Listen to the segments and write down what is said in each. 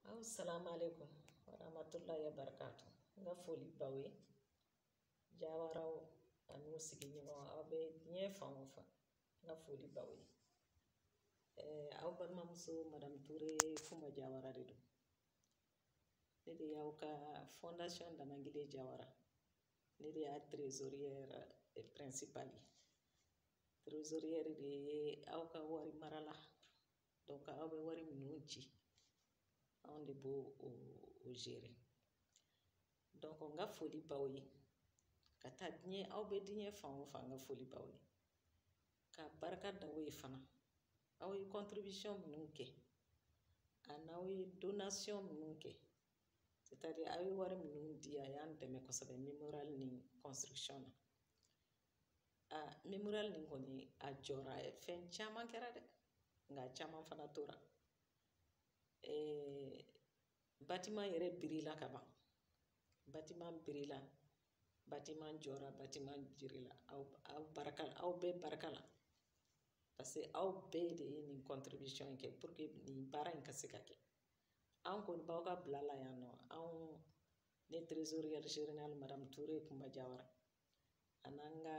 aw salamu aleykum warahmatulahi wabarakatu n ka foli b'aw ye jawaraw ani u sigiɲɔgɔn aw bɛ diɲɛ fan o fan n ka foli b'aw ye eh, aw balimamuso madamu ture kumba jawara de don ne de y'aw ka fondation damangile jawara ne de y'a trésorière principale ye trésorière de ye aw ka wari marala aw bɛ wari minnu ci anw de b'o o o gérer donc n ka foli b'aw ye ka taa diɲɛ aw bɛ diɲɛ fan o fan n ka foli b'aw ye ka barika da aw ye fana aw ye contribution minnu kɛ an'aw ye donation minnu kɛ c'est-à-dire aw ye wari minnu di a y'an dɛmɛ kosɛbɛ memorial nin construction na aa memorial nin kɔni a jɔra fɛn caman kɛra dɛ nka caman fana tora batiman yɛrɛ birila ka ban batiman birila batiman jɔra batiman birila aw aw barika aw bɛɛ barika la paseke aw bɛɛ de ye nin contribution in kɛ pour que nin baara in ka se ka kɛ an kɔni b'aw ka bila la yan nɔ anw ne trésorière générale madame Toure Kumba Jawara an'an ka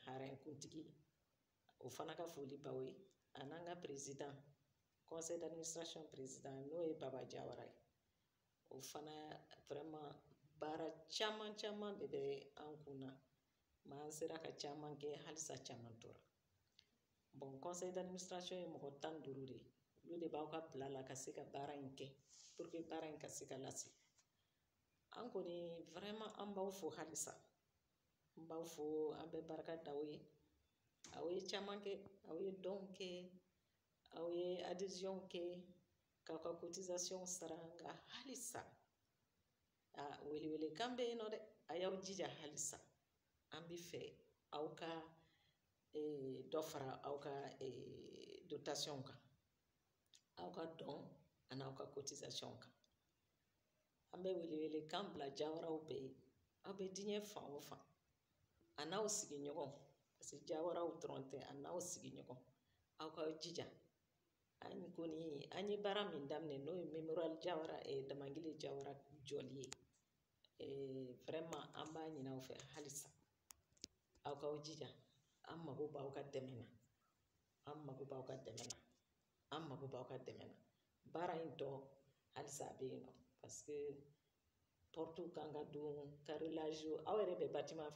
harakuntigi o fana ka foli b'aw ye an'an ka perezidan kɔnsɛ daminisirasɔn perezidan n'o ye baba jawara ye o fana vraiment baara caman caman de bɛ an kun na mais an sera ka caman kɛ halisa caman tora bɔn kɔnsɛ daminisirasɔn ye mɔgɔ tan duuru de ye olu de b'aw ka bila la ka se ka baara in kɛ puruke baara in ka se ka lase an kɔni vraiment an b'aw fo halisa n b'aw fo an bɛ barika da aw ye aw ye caman kɛ aw ye dɔnw kɛ aw ye adeziyɔnw kɛ k'aw ka kotisasiyɔnw sara nka halisa a welewelekan bɛ yen nɔ dɛ a y'aw jija halisa an bɛ fɛ aw ka eh, dɔ fara aw ka eh, dotasiyɔnw kan aw ka dɔn an'aw ka kotisasiyɔnw kan an bɛ welewelekan bila jawaraw bɛɛ ye aw bɛ diɲɛ fan o fan an'aw sigiɲɔgɔn paseke jawaraw dɔrɔn tɛ an'aw sigiɲɔgɔn aw ka jija an kɔni an ye baara min daminɛ n'o ye memorial jawara damangile jawara jɔli ye an b'a ɲini aw fɛ halisa aw k'aw jija an mago b'aw ka dɛmɛ na an mago b'aw ka dɛmɛ na an mago b'aw ka dɛmɛ na baara in tɔ halisa a bɛ yen nɔ paseke pɔrɔtiw kan ka don karelazi aw yɛrɛ bɛ batiman